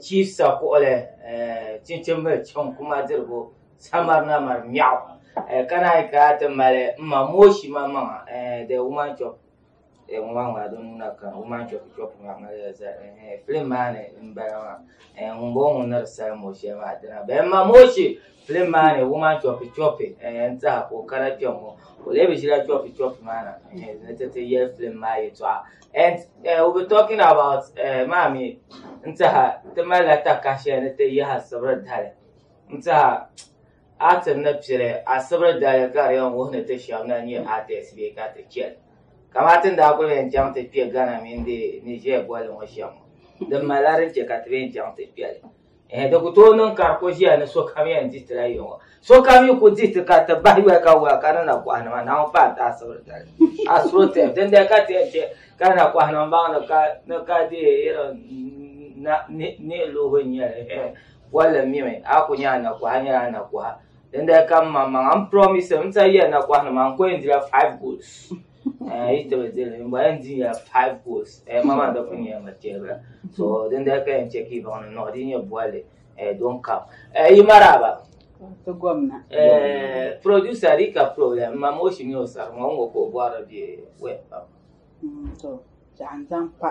Chief sa kuɣili chinchimbil chaŋ kuma dirigu samarina mari mɛɣu ka naan ka ti mali m ma mooshi ma maŋa the woman chop the woman maa di nuu na kana woman chop chop maa mali zali film maa ni m bala maa ŋun bɔŋɔ ŋun ni di sali mooshɛli maa dina bee m ma mooshi Filim maa ni wuma chɔpi chɔpi n tɛha ka o kana kpɛm ŋɔ o lee bi ʒila chɔpi chɔpi maa na ni ti ti yɛli filim maa yɛtɔɣa and eh, we be talking about eh, maa mi n tɛha ti malila taka shɛli ni ti yaha sibiri dali n tɛha atim ni pili a sibiri dali ka di yɛn wuhi ni ti shɛba na nyɛ artist bee ka ti chɛli kamani ti ni daa kuli yɛn chaŋ ti kpɛ Ghana mini di Niger boli ŋɔ shɛm ŋɔ din malila din chɛ ka ti bɛ yɛn chaŋ ti kpɛli Eh, di ku tooi niŋ ka di ku ʒiya ni sokam yɛn di ti la yiŋɔ. Sokam yi ku di ti ka ti bahi yoli ka wula ka di na kɔhi nima naawuni pa n tahi sibiri dali. Astrotep, dindali ka ti yɛn chɛ ka di na kɔhi nima baŋ ni ka ni ka di irin na ni ni luhi n nyɛli eh bolli n mimi a ku nyɛ a na kɔha nyɛla a na kɔha dindali ka m maŋmaŋa m promise m sa yɛn na kɔhi nima n ku yɛn dila five goals. yi taba dili n bɔla n di nyɛla five goals ma maa dɔkun nyɛla ma chɛbira so din dali ka yɛn chɛ ka yi baŋ ni nɔɣi di nyɛ bɔli don kam yi maraba ti gomna producer di ka problem ma ma o shi mi o sari ŋɔ ŋɔ ka o bɔhiri bɛ wɛ pam to zaɣa n zaŋ pa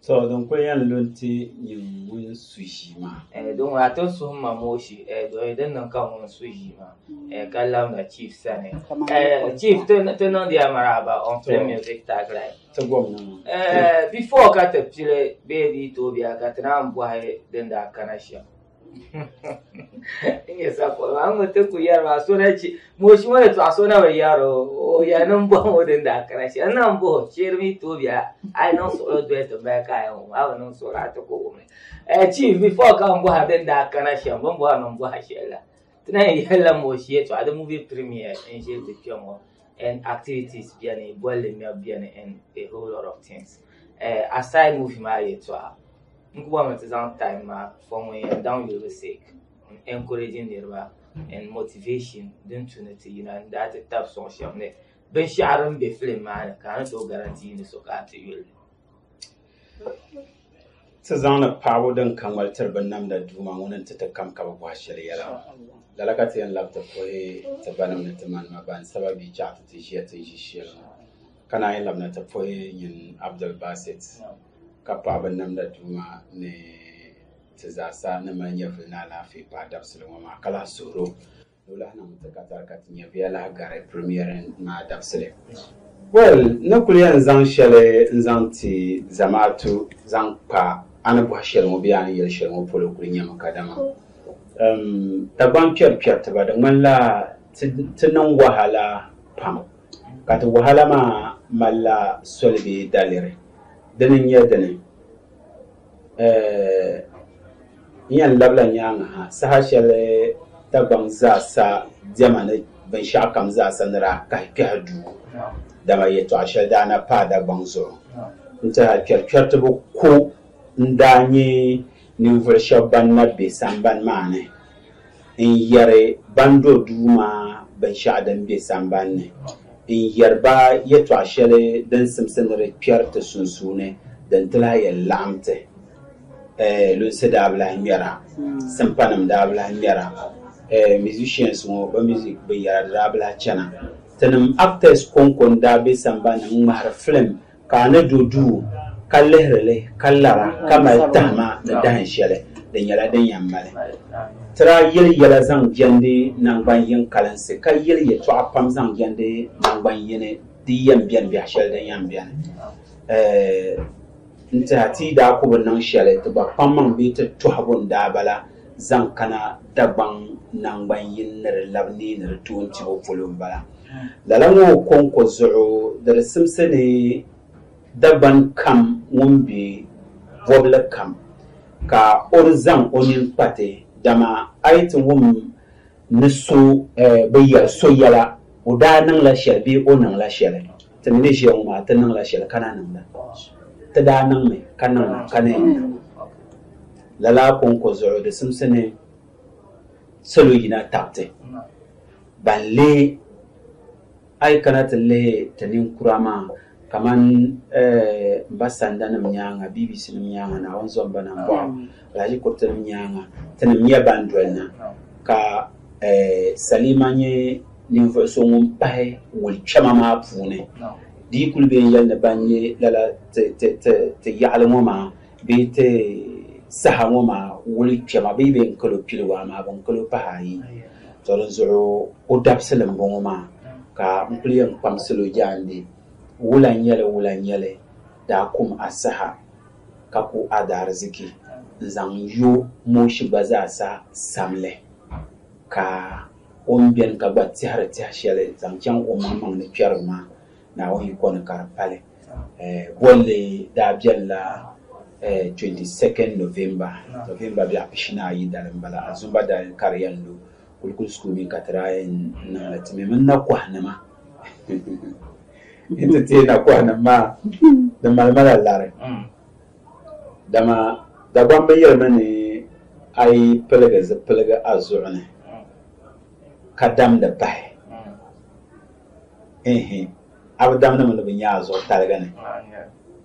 So din kuli yɛn lu n-ti nyini ŋun su ʒii maa. Eh, di ŋun a ti suhi ma mooshi, eh, doli din niŋ ka ŋun su ʒii maa, eh, ka labina Chief sani. Eh, Chief, ti, ti niŋdiya maraaba on Play Music Tagline. Ti gom na maa. Eh, before ka ti pili bee di yi tooi biɛha ka ti naan bɔhi din daa kana shɛm. Inye sapo ma ŋun ti ku yɛri maa so na chi mooshi ŋɔ ni tɔɣa so na bi yɛri o ya ni n bɔhi ŋɔ din daa kana shɛli n na n bɔhi shɛli mi tooi biɛla a yi niŋ suɣulo doli ti mali ka yɛn ŋɔ a bi niŋ suɣulo a ti ku wumi chief before ka n bɔha din daa kana shɛm bin bɔhi mi n bɔha shɛli la ti na yɛn yɛlila mooshi yɛtɔɣa di mubi premier n ʒe di kpɛm ŋɔ and activities beni bolli ŋmɛbu beni and a whole lot of things uh, aside movie maa yɛtɔɣa n ku bɔmi ti zaŋ time maa for ŋun yɛn daŋ yulibu sake encouraging niriba and motivation din tu ni ti yina n daa ti tab sɔŋ shɛm ni binshɛɣu din be film maa ni ka a ni tooi guarantee ni so ka a ti yuli Ti zaŋdi paɣibu din ka ŋmali tiri binnamda Duuma ŋuni nti ti kam ka bɛ bɔhi shɛli yɛla. Lala ka ti yɛn labi ti puhi ti banim ni ti manima ban saba bɛ chaɣ ti ti ʒiya ti ni ʒi shɛl ŋɔ. Ka naan yi labina ti puhi nyin Abdul Basit ka paɣi binnamda Duuma ni ti zaasa ni mali nyɛvili ni alaafee paai dabisili ŋɔ maa ka lahi suhir o Nulahi niŋ n ti ka tari ka ti nya bɛ ya lahi gari Premier maa dabisili. Well, n ni kuli yɛn zaŋ shɛli n-zaŋ ti zamaatu zaŋ kpa a ni bɔhi shɛli ŋɔ bee a ni yɛli shɛli ŋɔ polo kuli nyɛmi kadama um Dagbaŋ kpɛri kpɛritiba di ŋmanila ti ti niŋ wahala pam ka ti wahala maa malila soli bee daliri. Dini n-nyɛ dini? N yɛn labila nyaaŋa ha saha shɛli Dagbaŋ zaasa diɛma ni binshɛɣu kam zaasa ni daa kahi kpɛhi duu, dama yɛtɔɣ shɛli daa na paai Dagbaŋ zuɣu n-tɛha kpɛrikpɛritibu ko n-daa nyɛ ninvuɣ shɛb bɛn na be sambani maa ni. N yɛri ban do duu maa binshɛɣu din be samban ni. N yɛri ba yɛtɔɣ shɛli din simsi ni di kpɛri ti sunsuuni din ti lahi yɛn laɣim ti. Ɛɛ, lunsi daa bi lahi ŋmɛra, simpanim daa bi lahi ŋmɛra, ɛɛ, musicians ŋɔ bɛ music binyɛra di daa bi lahi chana. Tinim actors kɔŋko n-daa be samban ni n-ŋmahiri film. ka a ni do duu ka lihiri li ka lara ka mali tahima ni dahin shɛli di nyɛla din yɛn mali. Tira yɛli yɛla zaŋ jɛndi naŋgban yin kalinsi ka yɛli yɛtɔɣa pam zaŋ jɛndi naŋgban yini di yɛn bɛni biɛhi shɛli din yɛn bɛni. N tihi a ti yi daa ku bi niŋ shɛli ti gba kpaŋmaŋ bee ti tɔhigu n-daa bala. zaŋ kana Dagbaŋ naŋgban yini ni di labi neei ni di tooi tibo polo m-bala. Lala ŋɔ kɔŋko zuɣu di di simsi ni Dagban kam ŋun be bɔbili kam ka o di zaŋ o nini kpati, dama a yi ti wum ni so bi yɛli so yɛla o daa niŋla shɛli bee o niŋla shɛli, ti mi ni ʒiya ŋɔ maa ti niŋla shɛli ka na niŋda, ti daa niŋmi ka niŋda ka na yɛn niŋ. Lala kɔŋko zuɣu di simsi ni salo yina tabiti ban lee A yi kana ti lihi ti ninkura maa kamani m ba sandanim nyaaŋa, BBCnim nyaaŋa, Naawuni zɔmba na m-bɔɣu Alhaji Kuritinim nyaaŋa, tinim nyɛ ban doli na, ka Salima nyɛ ninvuɣ so ŋun pahi wuli kpɛma maa puuni. Di yi kuli be n yɛli ni ban nyɛ lala ti yaɣili ŋɔ maa, Bɛ yi ti saha ŋɔ maa wuli kpɛma bee bɛ ni kal o piligu amaa bɛ ni kal o pahi ayi. Tɔ dinzuɣu o dabisili m-bɔŋɔ maa ka n kul yɛn kpaŋsila o jaande, Wula nyɛli, wula nyɛli daa kum a saha ka ku a daariziki n-zaŋ yo mooshi gba zaa sa samli ka o ni beni ka gba tɛhiri tɛha shɛli zaŋ chaŋ omaŋmaŋ ni kpɛriba maa Naawuni yiko ni ka di pali. Bolli daa beli la 22nd November, November bɛɣu pishinaayi dali m-bala. Azumba daa yɛn kari ya n-lu Kulikuli School mi ka ti daa yɛn niŋ li ti mi mini nakɔhinima. N ti teei nakɔhinim maa di mali ma la lari. Dama Dagbaŋ bɛ yɛli mi ni a yi piligi zipiligu a zuɣu ni ka damdi pahi, ehe! a bi damnima ni bɛ nya a zuɣu taliga ni,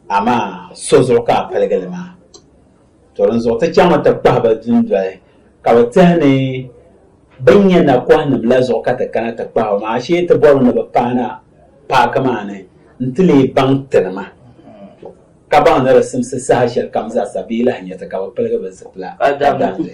amaa so zuɣu ka a paligi li maa. To dinzuɣu ti chaŋmi ti kpahi ba dundoli, ka bɛ tihi ni bɛ ni nya nakɔhinim la zuɣu ka ti kana ti kpahi ba maa, ashee ti bɔrimi ni bɛ paana paaki maa ni nti leei baŋ tinima ka baŋ ni di simsi saha shɛlikam zaa sa bee lahi nya ti ka bɛ piligi bɛ zipila ka damdi.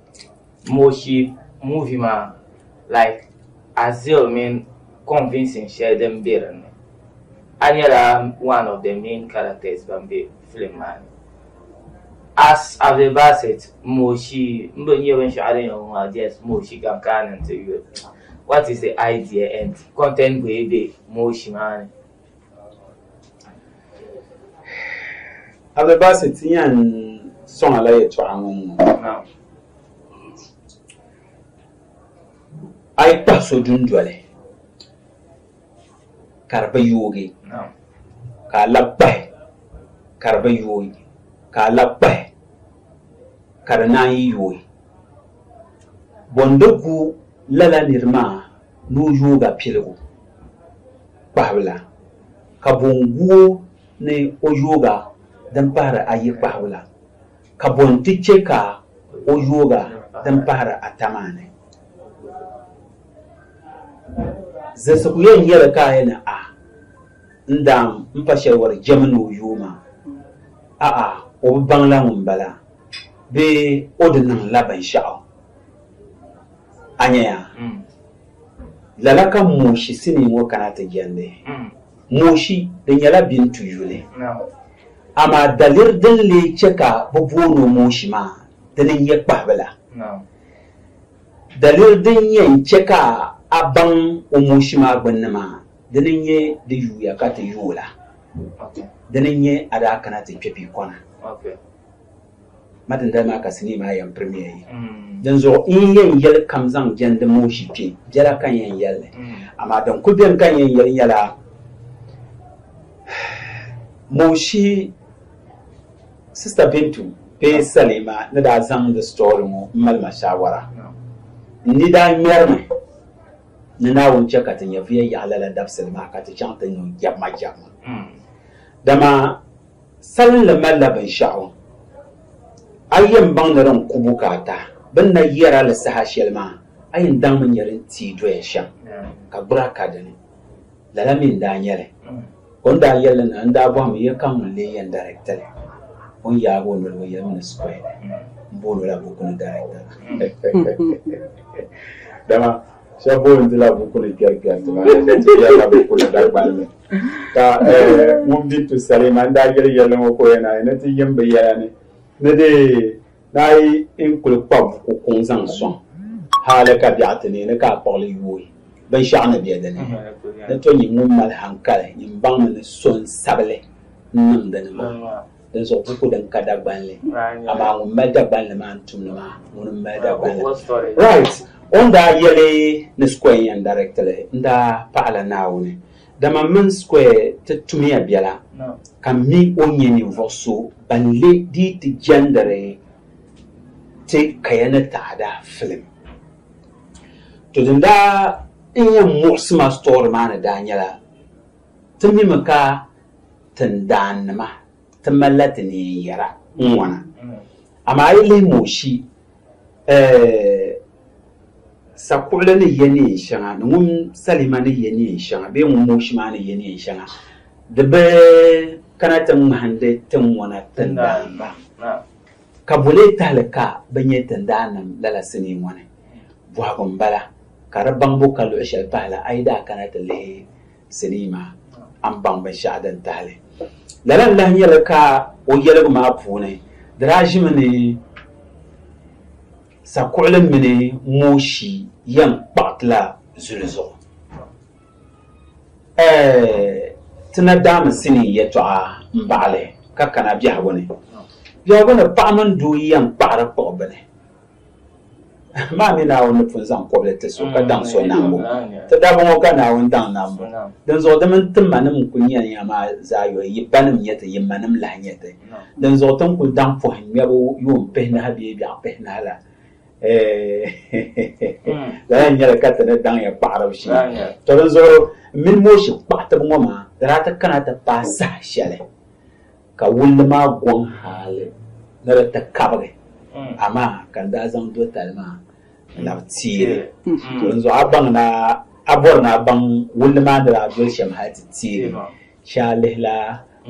Moshi movie maa like Azil mini convincing shɛli din be din ni a nyɛla one of the main characters ban be film maa ni as Abdul Basit moshi n bi nyɛ binshɛɣu din yɛn ŋɔ maa just moshi ka n kana n ti yuli what is the idea and content bɔi be moshi maa ni. Abdulbasi ti yan sɔŋa la yɛtɔɣa ŋɔ ŋɔ a yi kpahi so dundoli ka di bi yoogi ka a labi kpahi ka di bi yoogi ka a labi kpahi ka di naan yi yoogi bɔndi gu lala niri maa ni o yoog a piligu kpahibila, ka bo n-gu o ni o yoog a din pahiri ayi kpahibila, ka bo nti chɛ ka o yoog a din pahiri ata maa ni? Zilisi ku yɛn nyɛ li ka a yɛn ni a ni daam m-pa shɛli wari jɛmi ni o yoo maa, a'a o bi baŋ la ŋun bala, bee o di niŋ la binshɛɣu. A nya ya? Mm. Lala ka mooshi sinii ŋɔ kana ti jɛndi. Mm. Mooshi, di nyɛla Bintu yuli. No. Amaa daliri din lee chɛ ka bɛ booni o mooshi maa, dini n-nyɛ kpahibila. No. Daliri din yɛn chɛ ka a baŋ o mooshi maa gbunni maa, dini n-nyɛ di yuuya ka ti yooi la. Okay. Dini n-nyɛ a daa kana ti kpe bia kɔna. Okay. Ma dindali maa ka sinii maa yɛn pirimiya yi. Dinzuɣu n yi yɛn yɛli kam zaŋ jɛndi mooshi kpe biɛla ka n yɛn yɛli li. Amaa din kul beni ka n yɛn yɛli nyɛla mooshi Sista Bintu bee Salima ni daa zaŋdi sitɔri ŋɔ m-mali ma shaawara. N ni daa ŋmɛrimi ni Naawuni chɛ ka ti nyɛvuya yaɣi lala dabisili maa ka ti chaŋ ti ni o jɛbima jɛbima. Dama Salinli malila binshɛɣu a yɛn baŋ ni din ku bukaata bɛ ni na yɛr a li saha shɛli maa, a yɛn daŋmi nyɛ din teei doya shɛm, ka gbur a ka di ni. Lala mi n-daa nyɛ li. O ni daa yɛl li na, n daa bɔhimi ya ka ŋun lee yɛn dariɛkti li, o ni yaag o noli o yɛlimi ni Square m-booni o la buku ni dariɛkta maa. Dama Shɛba boli n-ti la buku ni kpɛri kpɛri ti maa ni ti kpɛri la buku ni Dagbani ni. Ka eh, ŋun bi tu Salima n daa yeli yɛlli ŋɔ ka o yɛn naai ni ti yim bi yɛla ni ni di naai n kuli kpa buku kuŋ zaŋ sɔŋ hali ka biɛɣu ti neei ni ka a kpuɣili yooi binshɛɣu ni be di ni. Ni to nyin ŋun mali hankali nyin baŋmi ni so n-sabili n-niŋ di ni maa. Dinzuɣu buku din ka Dagbanli, amaa ŋun mali Dagbanli maa n-tum li maa, ŋuni m-mali Dagbanli. Right! O ni daa yɛli ni Square n-yɛn direct li, n daa paɣi la Naawuni. Dama m mini Square ti tumiya biɛla, ka m mi o n-nyɛ ninvuɣ so ban le dii ti jɛndiri ti kaya ni taada film. To din daa n-yɛn muɣisi ma story maa ni daa nyɛla, Ti mimi ka tindaannima ti malila ti neen yɛra ŋ-ŋɔna. Amaa a yi lihi Mooshi sakuɣili ni yɛ neen shɛŋa ni ŋun Salima ni yɛ neen shɛŋa bee ŋun Mooshi maa ni yɛ neen shɛŋa, di bi kana ti ŋmahindi ti ŋɔna tindaannima. Ka bo lee tahili ka bɛ nyɛ tindaannim lala sinii ŋɔ ni? Bɔhigu m-bala, ka di baŋbu ka luɣ shɛli pahi la a yi daa kana ti lihi sinii maa, a ni baŋ binshɛɣu din tahi li. Lala n-lahi nyɛ li ka o yɛligu maa puuni di daa ʒimi ni sakuɣili mini mooshi yɛn kpaɣi ti la zuli zuɣu. Ti na daami sinii yɛtɔɣa m-baɣili ka kana biɛhigu ni. Biɛhigu ni paɣa mini doo yɛn kpaɣiri kpuɣi bini. Maa mi Naawuni ni pun zaŋ kɔbili ti so ka daŋ so nambu. Ti daba ŋɔ ka Naawuni daŋ nambu. Dinzuɣu di mini ti manim n-kul nyɛ ya maa zaa yoli, yi banim nyɛ ti, yi manim lahi nyɛ ti. Dinzuɣu ti ni kul daŋ pɔhimŋmɛbu yuun pihinahi bee biɛɣu pihinahi la, lala eh, nyɛla ka ti ni daŋya kpaɣaribu shee to din zuɣu mini mooshi kpaɣatibu ŋɔ maa di daa ti kana ti paai saha shɛli ka wulli maa gɔŋ haali ni di ti kabigi hmm. amaa ka n daa zaŋ do tali maa labi tiili hmm. to din zuɣu a baŋ na a bɔri na a baŋ wulli maa ni daa doli shɛm hali ti tiili shɛa lihila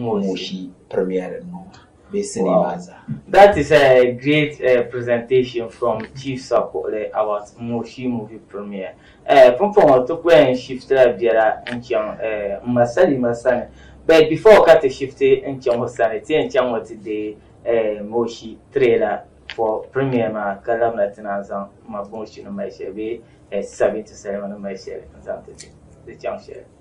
mooshi premier ŋɔ maa bɛ sinii maa zaa. That is a great uh, presentation from Chief Sakuɣili about Moshi movie premiere. Uh, Pumpɔŋɔ ti ku yɛn shiftila biɛra n-chaŋ uh, m ma Salima sani but before ka ti shifti n-chaŋ o sani ti yɛn chaŋ ŋɔ ti deei uh, Moshi trailer for premiere maa ka labina ti naan zaŋ ma Moshi ni mali shɛli bee uh, Sabinti Salima ni mali shɛli n-zaŋ ti ti chaŋ shɛli.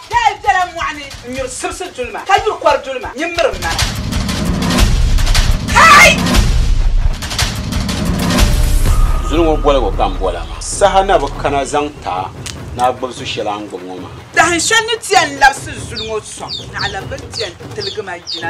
Daa bela mɔɣu ni n-nyuri sibisi dulima, ka nyuri kɔr dulima nyin miri m mana. Kai! Zuli ŋɔ boligu ka n bola maa. Saha na bi kana zaŋ ti a ni a gbibi su shɛli a ni gbibi ŋɔ maa. Dahin shɛli ni ti yɛn labisi zuli ŋɔ sɔŋ, naɣila bɛ ni ti yɛn tiligi ma yina.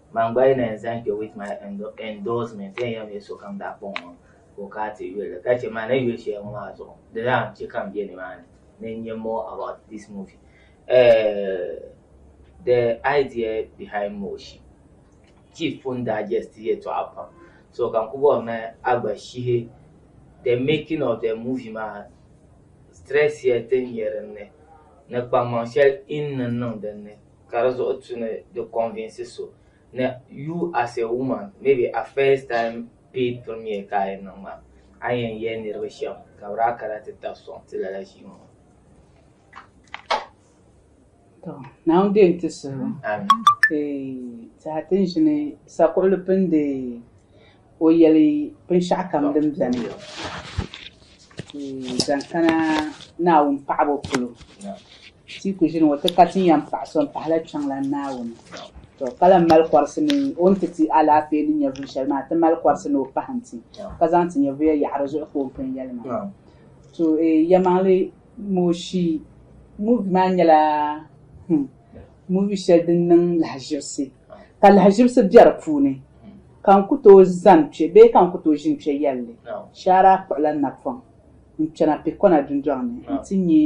Man gba yi na yɛn zaŋ kpe with my endorsement ti yɛn yɛm ya sokam daa kpaŋ ŋɔ ka o kana ti yuli ka chɛ ma ni yuli shɛli ŋɔ maa zuɣu di daa chɛ ka m be nimaani ni n nya more about this movie. Uh, the idea behind Moshi. Chief pun daa jɛsti yɛtɔɣa pam so ka n ku bɔri ni a gba shihi the making of the movie maa stress shɛli ti ni nyɛ din ni ni kpaŋmaŋ shɛli in ni niŋ din ni ka di zuɣu tu ni di convince so ni you as a woman maybe a first time paid premier ka a yɛn niŋ maa a yɛn yɛli niriba shɛm ka bi daa kana ti tabi sɔŋ ti lala ʒii ŋɔ Naa n deei ti suhu. Amin. Ee, tihi ti n ʒini sakuɣili pindi. ka o yɛli binshɛɣu kam din bɛni zaŋ kana Naawuni paɣibu polo ti yi ku ʒini ŋɔ ti ka ti ni yɛn paɣi so m-pahila Kpiɔŋlan Naawuni tɔ ka lan mali kɔrisi ni o ni ti ti alaafee ni nyɛvuli shɛli maa ti mali kɔrisi ni o pahim ti ka zaŋ ti nyɛvuya yaɣi di zuɣu ka o pun yɛli ma to eei yɛmaŋli mooshii muuvi maa nyɛla hmm, muuvi shɛli din niŋ lahaʒibisi Ka lahiʒibisi be di puuni, ka n ku tooi zani kpe bee ka n ku tooi ʒini kpe yɛlli shɛhira akpuɣila napɔŋ n-kpɛna Pekona dundɔŋ ni nti nyɛ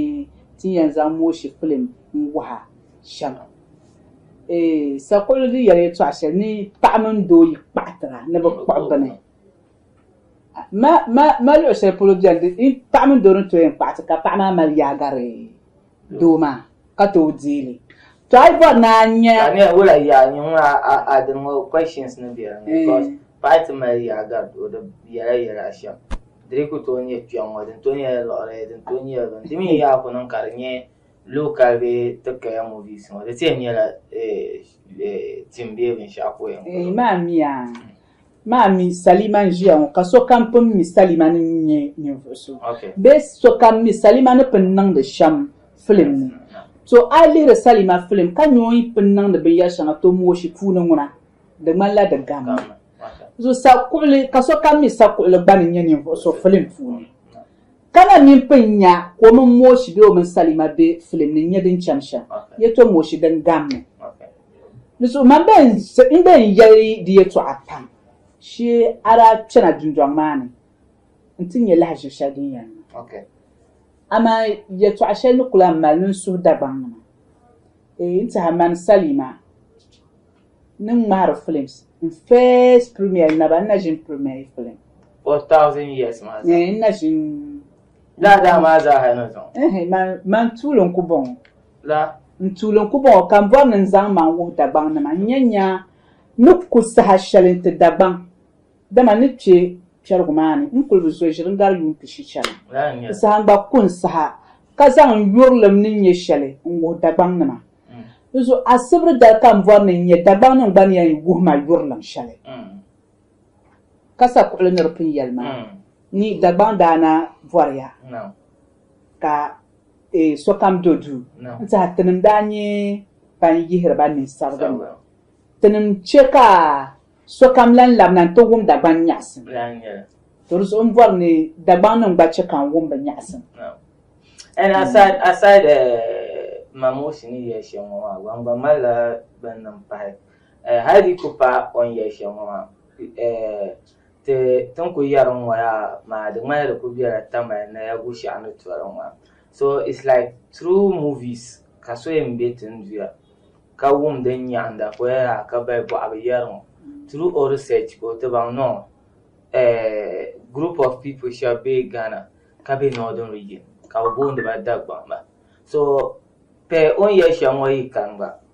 ti ni yɛn zaŋ mooshi filim n-wuhi a shɛm. Eeh, sakuɣili di yɛli yɛtɔɣ shɛli ni paɣa mini doo yi kpaɣitira ni bɛ kpuɣi bini. Ma, ma, ma luɣ shɛli polo beni di, paɣa mini doo ni tooi yɛn kpaɣiti ka paɣa maa mali yaagari. Doo maa ka tooi deei li. Tɔi bɔri ni a nya. Ka ne wula yaa nyu ŋɔ a a din ŋɔ questions ni be din ni cos paɣa ti mali yaa gari o di yɛla yɛla a shɛm diri ku tooi nyɛ kpɛŋ ŋɔ din tooi nyɛla liɣiri din tooi nyɛla bini di mi yaa ku niŋ ka di nyɛ local bee ti kaya movies ŋɔ di ti yɛn nyɛla eh eh tim bee binshɛɣu poin ŋɔ. Eeh maa miya. maa mi salima n ʒiya ŋɔ ka sokam pun mi salima ni nyɛ ninvuɣu so bee sokam mi salima ni pun niŋdi shɛm filim ni to a yi lihiri salima filim ka nyɛ o yi pun niŋdi binyɛri shɛŋa to mooshi puuni ŋuna di ŋmanila di gammi so sakuɣuli ka sokam mi sakuɣuli gba ni nyɛ ninvuɣu so filim puuni ka na mini pun nya ka o mini mooshi bee o mini salima be filim ni nyɛ din chɛm shɛm yɛ to mooshi din gammi Di suhi ma n be n yɛli di yɛtɔɣa pam shee a daa kpɛna dundɔŋ maa ni nti nya lahiʒiri shɛli din yɛn niŋ. Amaa yɛtɔɣa shɛli ni ku lan mali ni n suhi Dagbaŋnima. Eei n tɛha mani Salima ni ŋmahiri filims. N first premiere naba n na ʒini premiere yi filim. O thousand years maa zaa? Eei n na ʒini. Laa daa maa zaaha ni zaŋ. Ehe, man, man tuuli n-ku bɔŋɔ. La. N-tuuli n-ku bɔŋɔ, ka m bɔri ni n zaŋ man wuhi Dagbaŋnima, n-nya nya ni ku saha shɛli n-ti Dagbaŋ, dama n ni kpe kpɛrigu maa ni, n kul bi zo ʒiri n-gari yuun pishi chani. N saha n-gba ku n saha, ka zaŋ n yurilim ni nya shɛli n-wuhi Dagbaŋnima. Di zuɣu asibiri dali ka m bɔri ni n nya Dagbaŋnim gba ni yɛn wuhi ma yurilim shɛli. Ka sa kuɣili ni di pun yɛli maa ni Dagbaŋ daa na bɔriya ka sokam do duu n-tiɛha tinim daa nyɛ ban yihiri ba nini sabigi ni tinim chɛ ka sokam lan labina nti wum Dagbaŋ nyaɣisim. To di zuɣu m-bɔri ni Dagbaŋ nim gba chɛ ka n wum bɛ nyaɣisim. And aside, aside uh, Mamosi ni yɛli shɛm ŋɔ maa, ban gba malila bɛn niŋ pahi. Eh, hal di ku pa o ni yɛli shɛli ŋɔ maa. Eh, ti, ti ni ku yɛri n ŋɔ yaa maa, di ŋmanila di ku bela Tamale Naya Bushaɣu ni tɔri n ŋɔ. So, it's like through movies ka so yɛn be ti ni duya ka wum din nyaɣind dapoya yaa ka bahi bɔɣu bi yɛri ŋɔ. Through o research ka o ti baŋ ni o, eh, group of people shɛba be Ghana ka be Northern Region ka bɛ booni ba Dagbaŋba. So, pah o ni yɛli shɛli ŋɔ yi kani gba,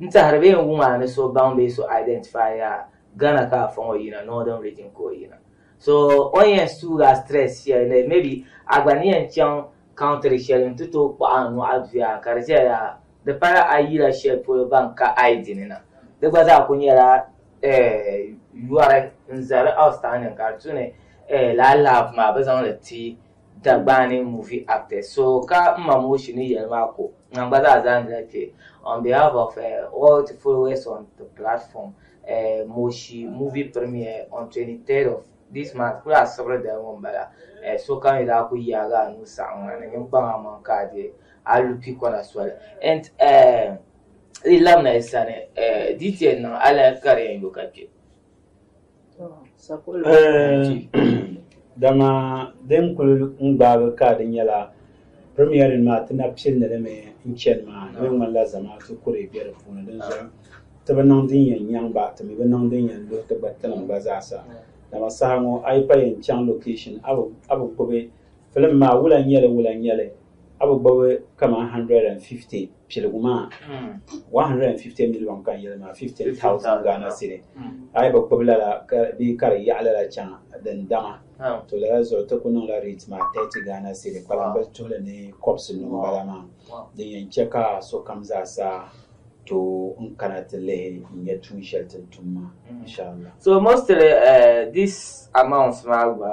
N tɛhiri bɛ yɛn wuŋ a ni so baŋ bee so identify a Ghana ka a fɔŋ o yina northern region ka o yina so o ni yɛn suugi a stress shɛli ni maybe a gba ni yɛn chaŋ country shɛli n ti tooi kpuɣi a nuhi a duya ka di ʒɛya yaha di pala a yila shɛli polo ban ka I dini na di gba zaa kuli nyɛla yɔri n zali outstanding ka di tu ni lala love maa bɛ zaŋ li ti Dagbani movie actors so ka n ma Moshi ni yɛli maa ko ŋan gba zaa zaandila kpe on behalf of uh, all the followers on the platform uh, Moshi movie premiere on 23rd of this month kuli asibiri dali ŋɔ m-bala uh, so kam yi daa ku yaagi a nuu saɣim ŋa ni ninkpaŋ amaŋ ka a di a lu kpi kɔna soli and uh, di labina yi sani uh, DTN niŋ alaya ka di yɛn yo ka kpe Dama din kuli n-gbaagi ka di nyɛla Premiering maa ti na pilli li mi n-chani maa di ŋmanila Zamaatu kuri be di puuni dinzuɣu ti bi niŋ din yɛn nyaŋ ba ti mi bi niŋ din yɛn luhi ti gba tinim gba zaa sa dama saha ŋɔ a yi pa yɛn chaŋ location a bi gbubi film maa wula n-nyɛli wula n-nyɛli A bi gbubi kaman 150 piligu maa, 150 miliɔŋ ka n yɛli maa, 15,000 Ghana cedi. A yi bi gbubi lala bee ka di yaɣi lala chaŋ din dama, to lala zuɣu ti ku niŋla rate maa 30 Ghana cedi, kpalambil tuhili ni kɔbisi nuu m-bala maa, din yɛn chɛ ka sokam zaa sa tooi n kana ti lihi n-nya tuun shɛli ti ni tum maa, inshaAllah. So mostly this amount maa gba.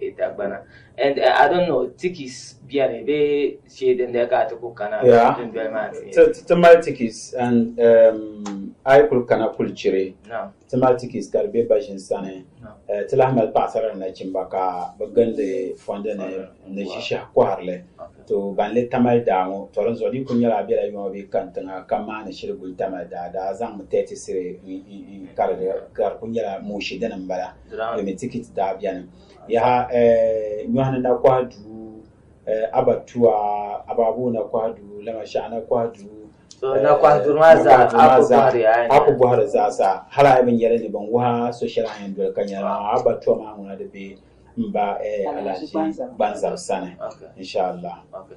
e dagbana and uh, I don't know tikis biɛni bee shee din dali ka ti ku kana Yeah. dundoli maa ni Ti- ti- ti mali tikis and um, a yi kuli kana kuli chiri Naam. ti mali tikis ka di be baʒin sani Naam. Eh, ti lahi mali paɣasara ni nachimba ka bi gindi fondi ni ni ʒishɛhi kɔhirili Okay. to ban le tamali daa ŋɔ to din zuɣu di ku nyɛla a bela yɔma bee kan tiŋa ka maani shiri guli tamali daa daa zaŋmi tɛti siri n- n- n- ka di ka di ku nyɛla mooshi dini m-bala Limi tikiti daa bɛni. Yaha eh, nyɔhi ni na kɔhi duu, eh, abatua, abaabuu na kɔhi duu, lama shɛɣu na kɔhi duu, So na kɔhi duri maa zaa, a ku bɔhiri a ni. a ku bɔhiri zaasa, hal a yi bi nyɛli ni bɛ ni wuhi a so shɛli a yɛn doli ka nyɛli maa, abatua maa ŋuna di be m ba eh, Alhaji Gbanzab sani, Okay. inshaAllah. Okay.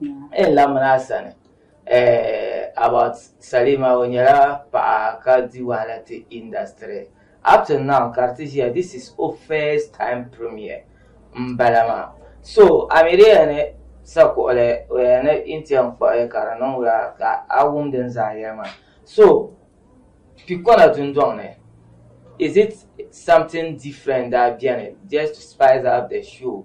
N lamina a sani about Salima o nyɛla paɣa ka di wahala ti industry up to now ka di ti ʒiya this is o first time premiere m bala maa so a mi di yɛn ni sa kuɣili o yɛn ni n ti yɛn kpuɣi ka di niŋ wula ka a wum din zaa yɛli maa so pikɔna dundɔŋ ni is it something different daa beni just to spice up the show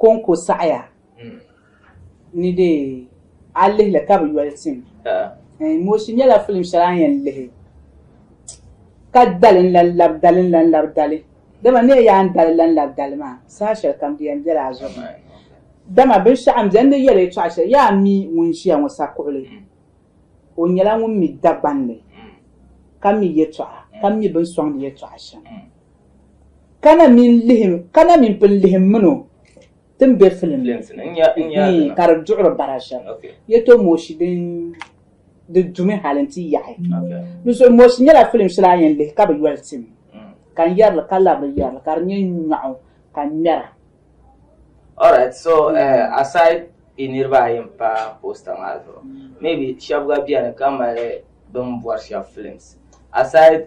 Kɔŋko saɣiya ni dee a lihi li ka bi yoli tim. Eh, Mooshi nyɛla filim shɛli a ni yɛn lihi ka dali n-lan lab dali n-lan lab dali. Dama ni yaa ni dali lan lab dali maa, saha shɛli kam di yɛn bela a zuɣu ni. Dama binshɛɣu m-beni n ni yɛli yɛtɔɣ shɛli, yaa mi ŋun ʒiya ŋɔ sakuɣili, o nyɛla ŋun mi Dagbanli, ka mi yɛtɔɣa, ka mi bini sɔŋdi yɛtɔɣa shɛm. Kana min lihim, kana min pun lihim min o tin be filim ni ka di duɣiri bara shɛm. Yɛto Mooshi din di dumi hali n-ti yaɣi. Dinzuɣu Mooshi nyɛla filim shɛli a yɛn lihi ka bi yoli tim ka n yɛri li ka lari li yɛri li ka di nyɛ nyɔɣu ka n ŋmɛra. Alright so aside yi niriba ayi n pa poster maa zuɣu maybe shɛba gba beni ka mali bini bɔri shɛba films aside.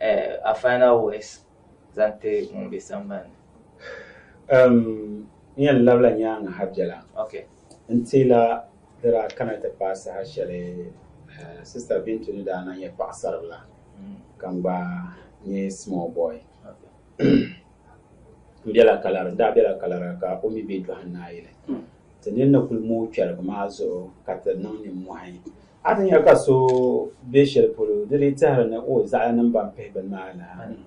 Eh, a final words zaŋ ti ŋun be sambani ni? Ehm, n yɛn labila nyaaŋa ha bela. Ok. N teela di daa kana ti paai saha shɛli eh, Sista Bintu ni daa na nyɛ paɣisaribila mm. ka n gba nyɛ small boy. Ok. N bela Kalari, n daa bela Kalari ka o mi be Dɔhinaayili. Mm. Ti nini ni kul mooi kpɛrigu maa zuɣu ka ti niŋ nimmɔhi. A ti nya ka so be shɛli polo, di lee tɛhiri ni o zaɣila nim ban pihi bini maa lahi ni.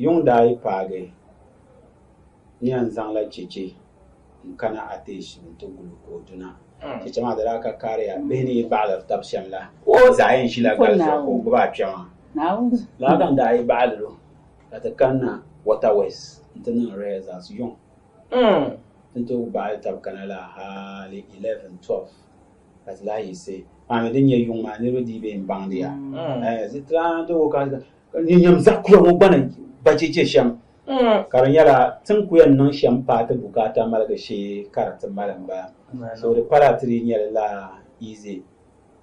Yuŋ daa yi paagi nia n-zaŋla cheche n-kana Atesh ni ti gul o ka o duna. Cheche maa di daa ka kariya bihi ni yi baɣilir tab shɛm la, di zaa yɛn ʒila gal zuɣu ka o gbibi a kpɛma. Lala n-daa yi baɣilir o ka ti kanna Waterways nti niŋ rehearsals. Yuŋ N ni tooi baɣi tab kana la hali 11, 12 ka ti lahi yiɣisi paami din nyɛ yuŋ maa niriba dii bee m-baŋdi ya. Zitraan tooi ka ni nyam zaɣ kura ŋɔ gba ni ba cheche shɛm ka di nyɛla tin ku yɛn niŋ shɛm paai ti bukaata maligi shee ka di ti mali m-bala. So di pala ti dii nyɛ li la easy.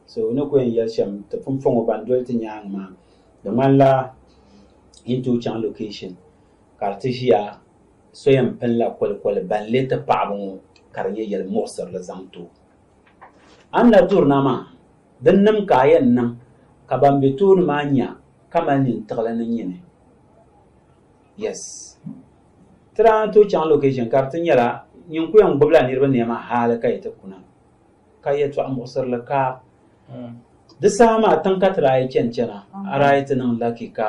So ni ku yɛn yɛli shɛm ti pun fɔŋ o ban doli ti nyaaŋa maa di ŋmanila yi ni tooi chaŋ location ka di ti ʒiya so yɛn pinila kolikoli ban lee ti paɣibu ŋɔ ka di nyɛ yɛli muɣisirili zaŋ ti o. A ni lahi durina maa, din nim ka a yɛn niŋ ka ban be tooni maa nya ka mali nintiɣili ni nyini. Yes. Ti daa ni tooi chaŋ location ka di ti nyɛla nyin ku yɛn gbibila niriba nɛma hali ka yi ti kuna ka yɛtɔɣa muɣisirili ka di saha maa tiŋ ka ti daa yi chani chana a daa yi ti niŋ lucky ka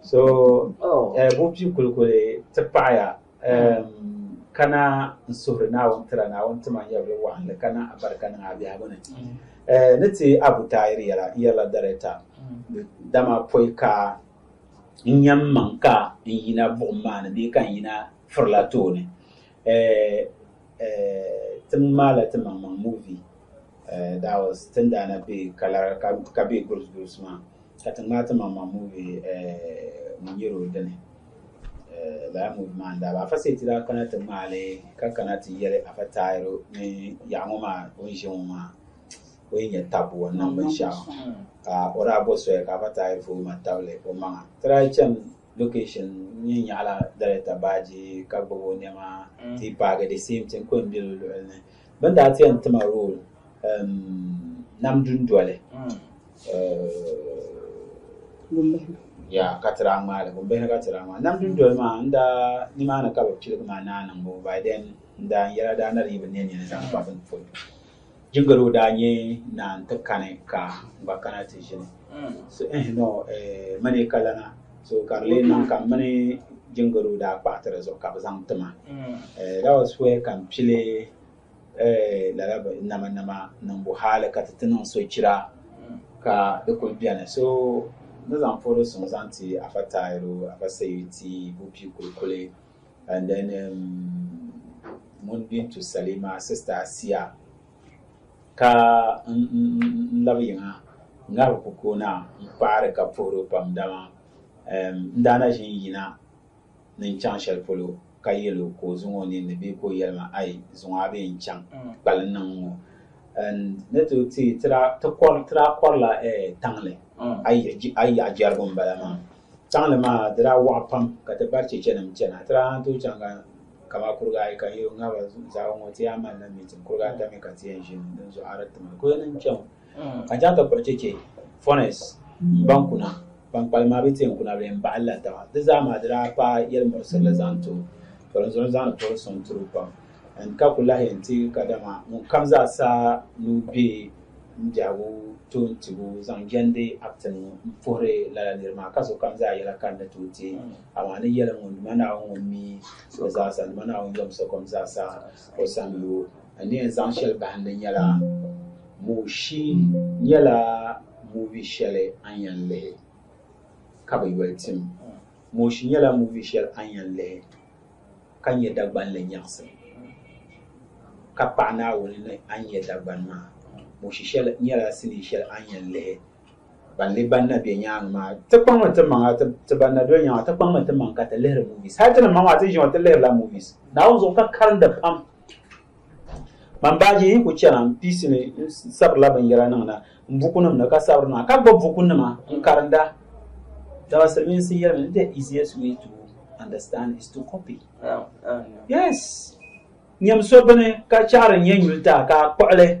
So eh, bo pi kulikuli ti paɣaya eh, kana n suhuri Naawuni tira Naawuni tima n yɛbili waɣinli ka niŋ abarika niŋ a biɛhigu ni. Eh, ni ti Abu Taayir yɛla n yɛrila darɛta dama pɔi ka n yɛn maŋ ka n yina buɣim maa ni bee ka n yina firila tooni. Eh eh Tim maala ti maŋ maŋ movie eh that was tin daana be kalara ka ka be groups groups maa ka ti ŋmaa ti maŋ maŋ movie eh ŋun nyɛ o dini eh lala movie maa n daa ba afa seeti daa kana ti ŋmaali ka kana ti yɛli afa taayiro ni yaɣa ŋɔ maa o ni ʒe ŋɔ maa o yi nyɛ tabbu o niŋ binshɛɣu ka o daa bo soya ka afa taayiro fo ma tabili o maŋa ti daa chani location nyɛ nyaɣala dalita baaji ka gbubi o niɛma mm. ti paagi the same thing ko n bili luɣuli ni bin daa ti yɛn tima role um, nam dundoli mm. uh, ya ka tira ŋmaali gumbihi ka tira ŋmaali nam dundoli maa n daa nimaani ka bi piligi maa naa niŋbu by then n daa n yɛla daa na di yi bi nɛ nini zaŋ kpa bin polo Jingalo daa nyɛ naa nti kani ka n gba kana ti ʒini. So ɛhi ni o eh, mani ka lana, so ka di lee niŋ ka m mini Jingalo daa kpaɣiti di zuɣu ka bɛ zaŋ ti ma. Eh, that was where ka m pili eh, lala bɛ nama nama niŋbu hali ka ti ti niŋ sochira ka di kuli beni. So ni zaŋ puhiri suŋ zaŋ ti Afa Tayiru, Afa Seyu ti Bupi Kulikuli And then um, ŋun bintu Salima sista Asiya ka n labi yiŋa ŋahi ku koona n paɣari ka puhiri pam dama um, n daana ʒi n yina ni n chaŋ shɛli polo ka yɛlo ka o zuŋ o ninni bee ka o yɛli ma ayi zuŋɔ a bee n chaŋ mm. kpali niŋ ŋɔ ni ti ti tira kɔrila eh, taŋli mm. a yaɣa jɛrigu n bala maa Taŋli maa di daa waɣa pam ka ti bari chechenim chana. Ti daa lan tooi chaŋ ka kamaa kuriga ayi ka yi ŋa ba zaɣibu ŋɔ ti yaa malila meeting. Kuriga ata mi ka ti yɛn ʒini din zuɣu a di ti mali kuya nim chaŋ. Ka chaŋ ti kpuɣi cheche Furness m-baŋ kuna ban kpalim maa bɛ ti yɛn kuna bɛ yɛn baɣili la taba. Di zaa maa di daa paai yɛlimuɣisirili zaŋ ti o, polinzuɣu zaŋdi poli suŋ tiri o pam. N-ka ku lahi yɛn ti kadama ŋun kam zaa sa ni o be m biɛhigu toon tibu zaŋ jɛndi Act ŋɔ m-puhiri lala nir maa, ka sokam zaa yɛla ka n ni tooi ti a, amaa ni yɛlim ŋun duma Naawuni ŋun mi o zaa sa, n duma Naawuni yom sokom zaa sa o sani yo. N ni yɛn zaŋ shɛli bahim li nyɛla, Mooshi nyɛla movie shɛli a ni yɛn lihi ka bi yoli tim. Mooshi nyɛla movie shɛli a ni yɛn lihi. ka nyɛ Dagbanli nyaɣisim, ka paɣi Naawuni ni a ni nyɛ Dagbani maa, Moshi shɛli nyɛla sinii shɛli a ni yɛn lihi ban ni ban na be nyaaŋa maa. Ti kpaŋmi ti maŋa, ti ban na doli nyaaŋa, ti kpaŋmi ti maŋ ka ti lihiri movies. Hali ti ni maŋ maa, ti ʒiɛŋ ti lihirila movies Naawuni zuɣu ka karinda pam. man baaji yi ku chɛna n piisi ni n sabirila binyɛra niŋda n bukunima ni ka sabiri niŋda ka gbubi bukunima n karinda dama silimiinsi yɛlimi ni the easiest way to understand is to copy yes nyɛm so bini ka chɛɣiri nyɛ nyuli taa ka a kpuɣili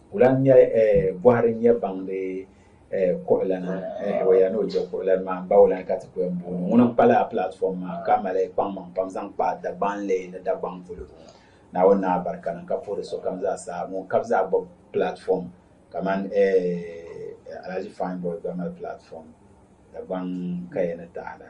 Wula n-nyɛ bɔhiri nyɛ baŋdi kuɣulana Hewaya ni o je kuɣulana maa m-ba wula ka ti ku yɛn booni o? Ŋuni n-kpa lala platform maa ka mali kpaŋmaŋ pam zaŋ kpa Dagbanli ni Dagbaŋ polo? Naawuni ni a barika ni ka puhiri sokam zaa saha ŋun ka bi zaa gbubi platform kamani Alhaji Fine Boy gba mali platform Dagbaŋ kaya ni taada.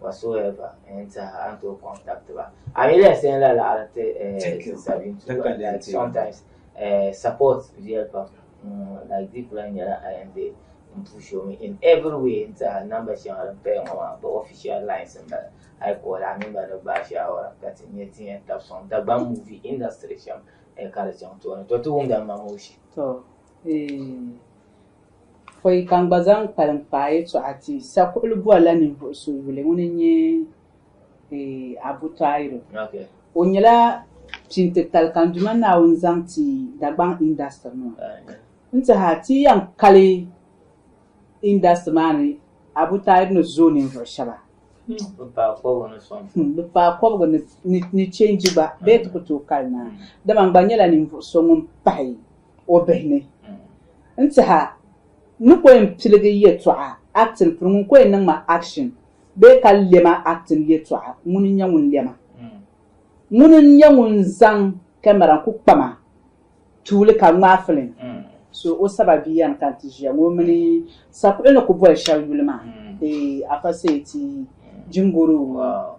whatsoever n tiɛha a ni tooi contact ba a mi lɛs n la laɣiri ti eh, sabin tuba like sometimes eh, support viɛl pam mm, like deep la nyɛla a yɛn be n push me in every way n tiɛha number shɛŋa din paya ŋɔ maa ba official lines n bala a yi kɔɔli a mini ba ni gbaai shaawara ka ti nyɛ ti yɛn tabi sɔŋ Dagbaŋ movie industry shɛm eh, ka di chaŋ tooni to ti wumda ma mooshi to eh, Fo yi ka n gba zaŋ kpalim kpaai yɛtɔɣa ti sakuɣili bɔrila ninvuɣ so yuli ŋun n-nyɛ Abu Tahiru. O nyɛla pintitali ka n Duuma Naawuni zaŋ ti Dagbaŋ indasitiri ŋɔ. N tihi a ti yɛn kali indasitiri maa ni Abu Tahiru ni zooi ninvuɣ shɛba. Bɛ paai kɔbigu ni sɔŋ. Bɛ paai kɔbigu ni chɛnji gba bee ti ku tooi kali naa. Dama n gba nyɛla ninvuɣ so ŋun pahi. o bihi ni. N tiha, n ni ko yɛn piligi yɛtɔɣa, acting, pini ŋun ko yɛn niŋ ma action bee ka lɛ ma acting yɛtɔɣa ŋuni n-nyɛ ŋun lɛ ma. Ŋuni n-nyɛ ŋun zaŋ camera n-ku kpa ma tuuli ka ŋmaai film. So o saba bia yɛn ka n-ti ʒiya ŋɔ mini sakuɣili ni ku boli shɛli yuli maa. Eeh Afa Seyi ti Jingoro.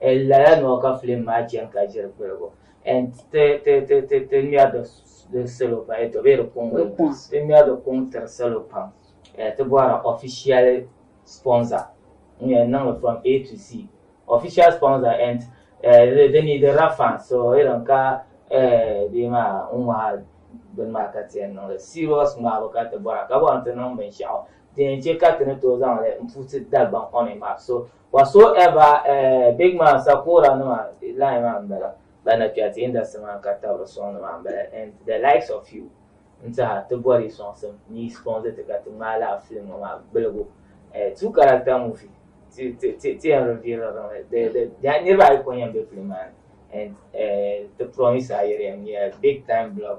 N lala ni o ka filim maa chani ka ʒiri kpirigu and ti ti ti ti ti ŋmɛri di salo pam to be di kuŋ ti ŋmɛri di kuŋ tiri salo pam ti bɔhira official sponsor n yɛn niŋli from A to Z official sponsor and di ni di rafa so irin ka bee maa n ŋmahiri bini maa ka ti yɛn niŋli serious ŋmahibu ka ti bɔra ka bɔri ti niŋ binshɛɣu din yɛn che ka ti ni tooi zaŋli n puhi ti Dagbaŋ on a map so Whatsoever eh, big man sakura nima line maa n bala ba na kpɛri ti industry maa ka tabiri song nima n bala and the likes of you n tiha ti bɔri sɔŋsim ni sponsor ti ka ti ŋmaa laa film ŋɔ maa gbiligu eh, two character movie ti ti ti ti yɛn reveal riŋli the the the niriba ayi ko yɛn be film maa ni and eh, ti promise a yɛri yɛn nyɛ big time block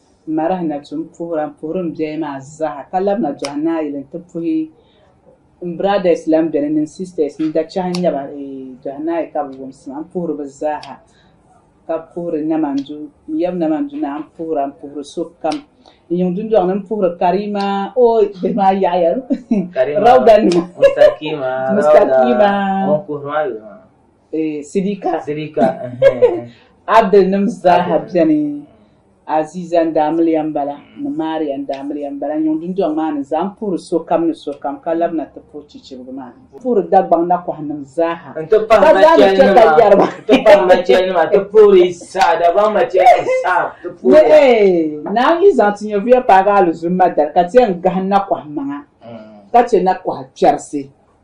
Marah na tu m-puhira m-puhiri m biɛhi maa zaa ka labina dɔhi naayili nti puhi m brothers lan beni mini sisters n dachahi n-nyɛ ba dɔhi naai ka bɛ wumsi ma m-puhiri bɛ zaaha ka puhiri Namandu n yab Namandu naa m-puhira m-puhiri so kam n yiŋ dundɔŋ ni m-puhiri Karima o bihi maa yaɣiya Rauda nima Mustaqiima Rauda ŋun puhiri maa yuli maa. Sidika Abdul nim zaaha beni Aziza n daa miliya m bala ni Maria n daa miliya m bala n yuŋ dundɔŋ maa ni zaa m puhiri sokam ni sokam ka labina ti puhi chichirigu maa n puhiri Dagbaŋ nakɔha nim zaaha n ti pahi machel nima ti puhiri saha Dagbaŋ machel nim saha ti puhiri ba naan yi zaŋ ti nyɛvuya paagi alizumma dari ka ti yɛn gahi nakɔha maŋa ka che nakɔha kpɛrisi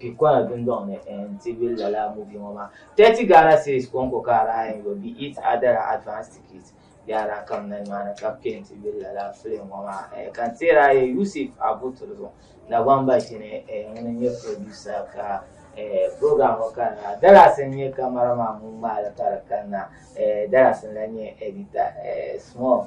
Kikɔna dundɔŋ ni n-ti be lala movie ŋɔ maa. Thirty Ghana cedis kɔŋko ka Araya Ngo be it other advance tickets be adaa kam na nimaani ka bɛ kpɛri nti be lala film ŋɔ maa. Eh, ka n teeri a yɛli Yusuf Abuturu zuɣu Dagbaŋ Bashini eh, ŋuni n-nyɛ producer ka eh, program ŋɔ kanna. Dallas n-nyɛ camera man ŋun ŋmaai li ka di kanna eh, Dallas n-lahi nyɛ editor eh, Small.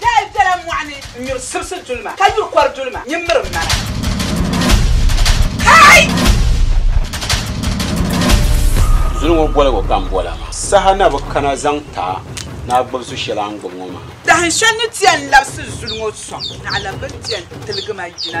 Daa bela mɔɣu ni n-nyuri sibisi dulima, ka nyuri kɔr dulima nyin miri m mana. Kai! Zuli ŋɔ boligu ka n bol a maa. Saha na bi kana zaŋ ti a ni a gbib su shɛl a ni gbib ŋɔ maa. Dahin shɛl ni ti yɛn labisi zuli ŋɔ sɔŋ, naɣila bɛ ni ti yɛn tiligi ma yina.